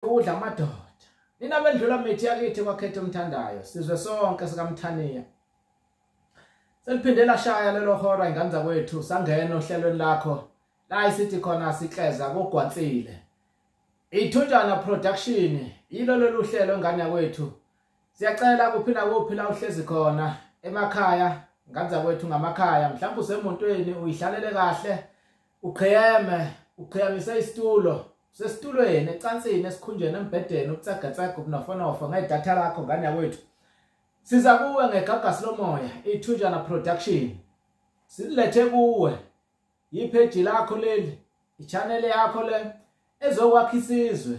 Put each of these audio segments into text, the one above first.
udla amadoda nina bendlula mithi yakithi kwakhetha umthandayo sizwe sonke sikamthaniya seliphinde lashaya lelo hora ingane zakwethu sangena ohlelweni lakho la isithi khona sikleza kogwansile ithunjana production yilo lolu hlelo ngane yakwethu siyacela kuphi nakuphi la uhlezi khona emakhaya ngane zakwethu ngamakhaya mhlawumbe usemontweni uyihlalele kahle uqheyeme uqheyamise isitulo sesitulweni ecansini esikhunjeni embhedeni ukutsagatsega ubunofonofa ngedatha lakho ngane yakwethu siza kuwe ngegagasi lomoya ithunjana production silethe kuwe yipheji lakho leli ichanele yakho le ezokwakha isizwe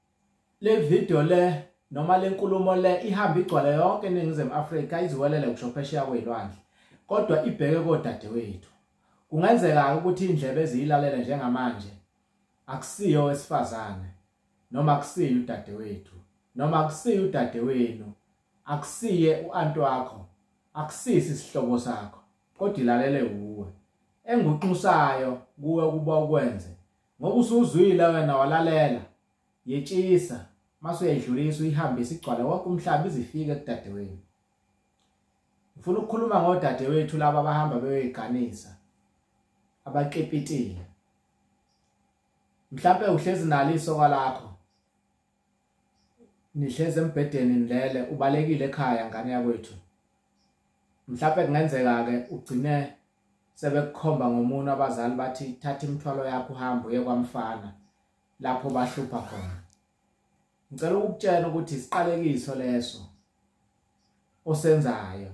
le video le noma le nkulumo le ihamba igcwala yonke eningizimu afrika iziwelele kusho phesheya kweyilwandle kodwa ibheke kodadewethu kungenzeka-ke ukuthi iy'ndlebe eziyilalele njengamanje akusiyo owesifazane noma akusiye udadewethu noma akusiye udadewenu akusiye u-anti wakho akusisi isihlobo sakho kodwa ilalele wuwe enguqinsayo kuwe ukuba ukwenze ngoba usuzwile wena walalela yetshisa mase uyayidlulisa uyihambe isigcwala wonke umhlaba izifike kudadewenu ngifuna ukukhuluma ngodadewethu laba abahamba beyoyiganisa abaqepitile mhlawumbe uhlezi nalo isoka lakho nihlezi embhedeni nilele ubalekile ekhaya ngane yakwethu mhlawumbe kungenzeka-ke ugcine sebekukhomba ngomunwe abazali bathi thatha imithwalo yakho uhambe uye kwamfana lapho bahlupha khona ngicela ukukutshela ukuthi isiqalekiso leso osenzayo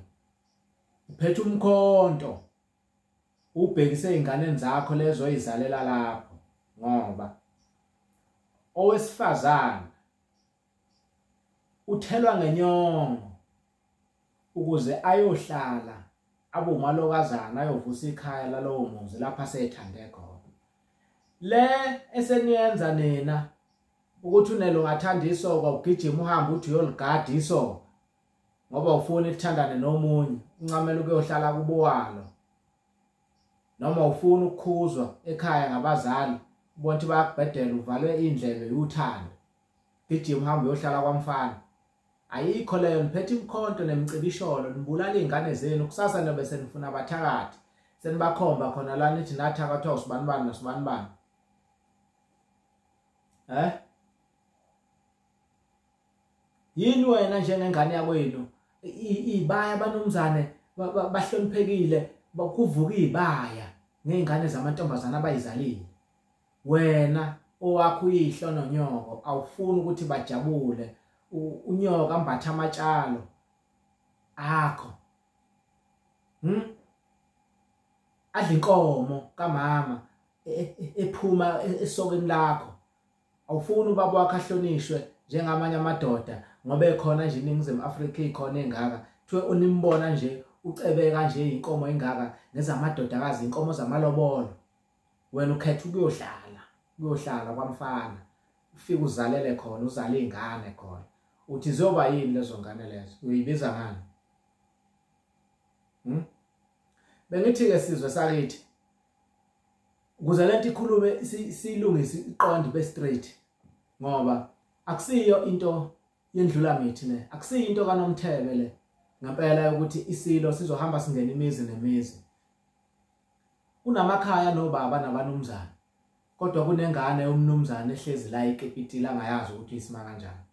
uphethe umkhonto ubhekise ezinganeni zakho lezo oyizalela lapho ngoba owesifazana uthelwa ngenyongo ukuze ayohlala abe umalokazana ayovusa ikhaya lalowo muzi lapho asethande khona le eseniyenza nina ukuthi unelo ngathanda isoka ugijima uhambe uthi uyoligada isoka ngoba ufuna ukuthandana nomunye uncamela ukuyohlala kubowalo noma ufuna ukukhuzwa ekhaya ngabazali ubona ukuthi bayakubhedela uvalwe indlebe yuthando gijima uhambe uyohlala kwamfana ayikho leyo niphethe imkhonto nemcibisholo nibulala iy'ngane zenu kusasa nobe senifuna abathakathi senibakhomba khona la nithi nathakathwa usibani bani nosibani bani um eh? yini wena njengengane yakwenu ibaya abanumzane bahloniphekile bakuvuka izibaya nezingane zamantombazana abayizalile wena owakho uyihlo nonyoko awufuni ukuthi bajabule unyoka ambatha amatshalo akho hm adla inkomo kamama e, e, ephuma esokeni lakho awufuni ubaba wakho ahlonishwe njengamanye amadoda ngoba ekhona nje iningizimu afrika ikhona engaka kuthiwe unimbona nje ucebeka nje inkomo engaka nezamadodakazi inkomo zamalobolo wena ukhetha ukuyohlala kuyohlala kwamfana ufike uzalele khona uzale izingane khona uthi zoba yini lezo ngane lezo uyibiza ngani hm bengithi ke sizwe sakithi ukuze lento ikhulume silungise iqondo ibe straight ngoba akusiyo into yendlula mithi le akusiyo into kanomthebe le ngempela ukuthi isilo sizohamba singena imizi nemizi kunamakhaya nobaba nabanumzana kodwa kunengane yomnumzane ehlezi la ikepitila angayazi ukuthi isima kanjani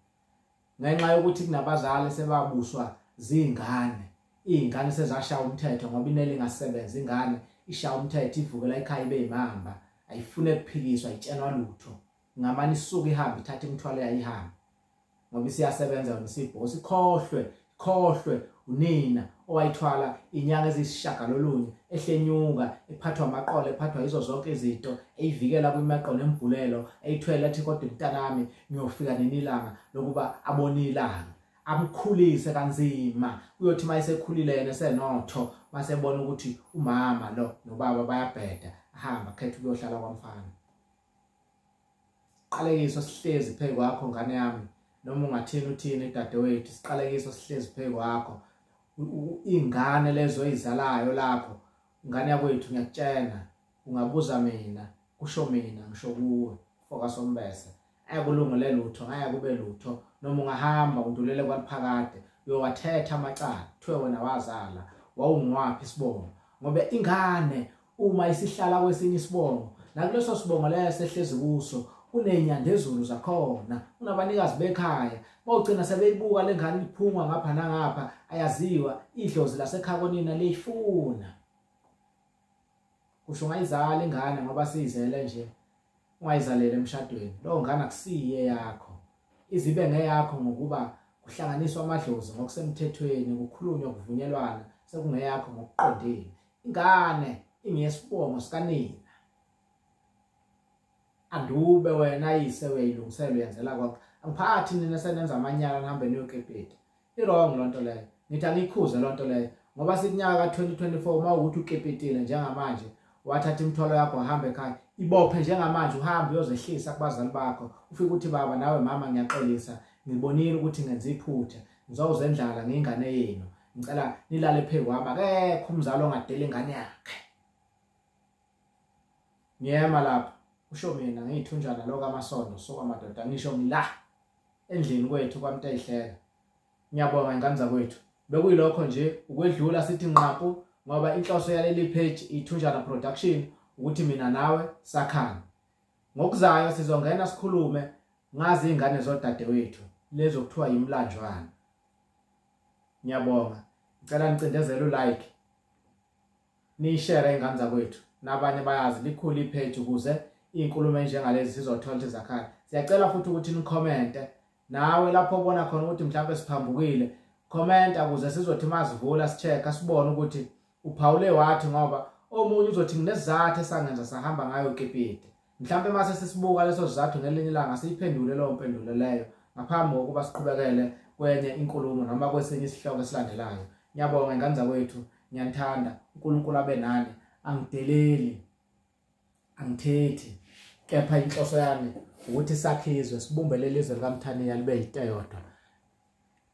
ngenxa yokuthi kunabazali sebabuswa zingane izingane sezashaya umthetho ngoba inele ingasebenza ingane ishaya umthetho ivukela ekhaya ibe imamba ayifune kuphikiswa itshenwa lutho ngamani isuke ihamba ithatha imithwalo yayihambe ngoba isiyasebenza yona isibhosi khohlwe khohlwe unina owayithwala inyanga eziyisishagalolunye ehlenyuka ephathwa amaqolo ephathwa yizo zonke izinto eyivikela kwimaqo nembhulelo eyithwele ethi kodwa mntanami ngiyofika nenilanga lokuba abone ilanga amkhulise kanzima kuyothi uma esekhulile yena esenotho masebona ukuthi umama lo nobaba bayabheda ahamba khetha ukuyohlala kwamfana Qalekiso sihlezi phezu kwakho ngane yami noma ungathini uthini dadewethu siqalekiso sihlezi phezu kwakho ingane lezo izalayo lapho ngane yakwethu ngiyakutshena ungabuza mina kusho mina ngisho kuwe foka sombese akulungele lutho ngaya kube lutho noma ungahamba undulele kwaliphakade uyowathetha amacala kuthiwe wena wazala wawungwaphi isibongo ngoba ingane uma isihlala kwesinye isibongo nakuleso sibongo leyo sehlezi kuso kunenyandezulu zakhona unabanikazi bekhaya bawugcina sebeyibuka le ngane iphungwa ngapha nangapha ayaziwa idlozi lasekhaya konina liyifuna kusho ungayizala ingane ngoba siyizele nje ungayizalele emshadweni lowo ngane akusiye yakho izibe ngeyakho ngokuba kuhlanganiswa amadlozi ngokusemthethweni kukhulunywa kuvunyelwana sekungeyakho ngokuqondile ingane ingiyesibongo sikanina andube wena yise uyayilungisela uyenzela konke angiphathi nina senenza amanyala nihambe niyoqephetha i-wrong loo nto leyo ngithi angiyikhuze loo nto leyo ngoba sikunyaka ka-2024 uma ukuthi ukepetile njengamanje wathatha imithwalo yakho wahambe ekhaya ibophe njengamanje uhambe uyozehlisa kubazali bakho ufike ukuthi baba nawe mama ngiyaxolisa ngibonile ukuthi ngenza iphutha ngizowuzendlala ngingane yenu ngicela nilale phezu kwami akekho umzali ongadela ingane yakhe ngiyema lapho usho mina ngiyithunjana lo kamasondo so amadoda ngisho ngila endlini kwethu kwamtayihleka ngiyabonga ingane zakwethu bekuyilokho nje ukwedlula sithi nqapu ngoba inhloso yaleli page ithunjana production ukuthi mina nawe sakhana ngokuzayo sizongena sikhulume ngazi ingane zodadewethu lezo kuthiwa yimlanjwana ngiyabonga ngicela nicindezele ulike niyishare ingane zakwethu nabanye bayazi likhulu ipage ukuze iy'nkulumo enjengalezi sizothola ukuthi zakhala siyacela futhi ukuthi nikhomente nawe lapho obona khona ukuthi mhlawumbe siphambukile khomenta ukuze sizothi masivula si-check-a sibone ukuthi uphawule wathi ngoba omunye uzothi nginesizathu esangenza sahamba ngayo kipite Mhlawumbe uma sesibuka leso sizathu ngelinye ilanga siyiphendule leyo mpendulo leyo ngaphambi kokuba siqhubekele kwenye inkulumo noma kwesinye isihloko esilandelayo. Ngiyabonga ingane zakwethu, ngiyanithanda, uNkulunkulu abe nani, angideleli, angithethi, kepha inhloso yami ukuthi sakhe izwe sibumbe leli zwe likamthaniya libe yiteyodwa